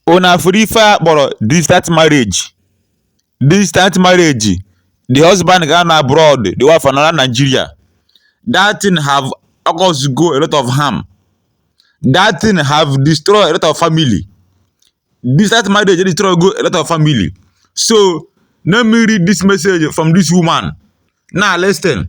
Una fụrụ ife a kpọrọ distant marriage? Distant marriage, the husband ga-anọ abroad, the wife anọ na Nigeria. That thing have caused go a lot of harm. That thing have destroyed a lot of family. Distant marriage dey destroy go a lot of family. So let me read this message from this woman. Now listen.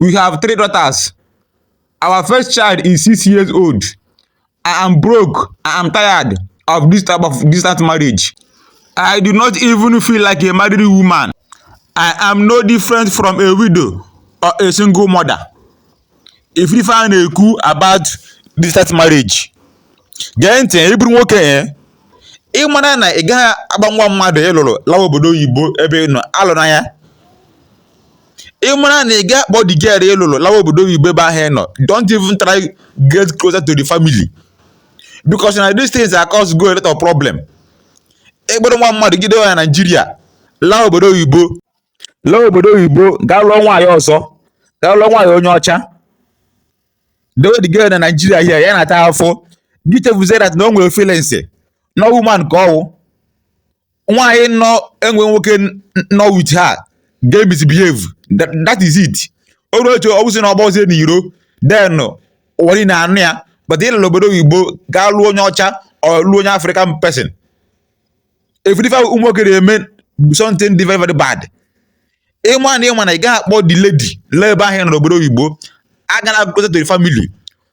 We have three daughters. Our first child is six years old. I am broke. I am tired of this type of distant marriage. I do not even feel like a married woman. I am no different from a widow or a single mother. Ị fụrụ ife a na-ekwu about distant marriage, gee ntị ị bụrụ nwoke eh? ị mara na ị gaghị akpọ nwa mmadụ ị lụrụ lawa obodo oyibo ebe ị nọ alụna ya ị mara na ị gaghị akpọ the girl ị lụrụ lawa obodo oyibo ebe ahụ ị nọ don't even try get closer to the family because na these things a causego a lot of problem ị kpọrọ nwa mmadụ gide ya na naijiria laa obodo oyibo laa obodo oyibo gaa lụọ nwaanyị ọzọ gaa lụọ nwaanyị onye ọcha dewe the girl na naijiria here ya na-ata afụfụ gị chefuzie that na o nwere feelings na woman ka ọ wụ nwaanyị na-enweghị nwoke nọ with her ga misbehave That- that is it o ruo echi ọ bụzi na ọ gbazie n'iro then ụwa niile anụ ya but ị lara obodo oyibo gaa lụọ onye ọcha or lụọ onye african person ị fụrụ ife ụmụ nwoke na-eme something dị very very bad ịma na ịma na ị gaghị akpọ the lady laa ebe ahụ ị nọ n'obodo oyibo agana closer to the family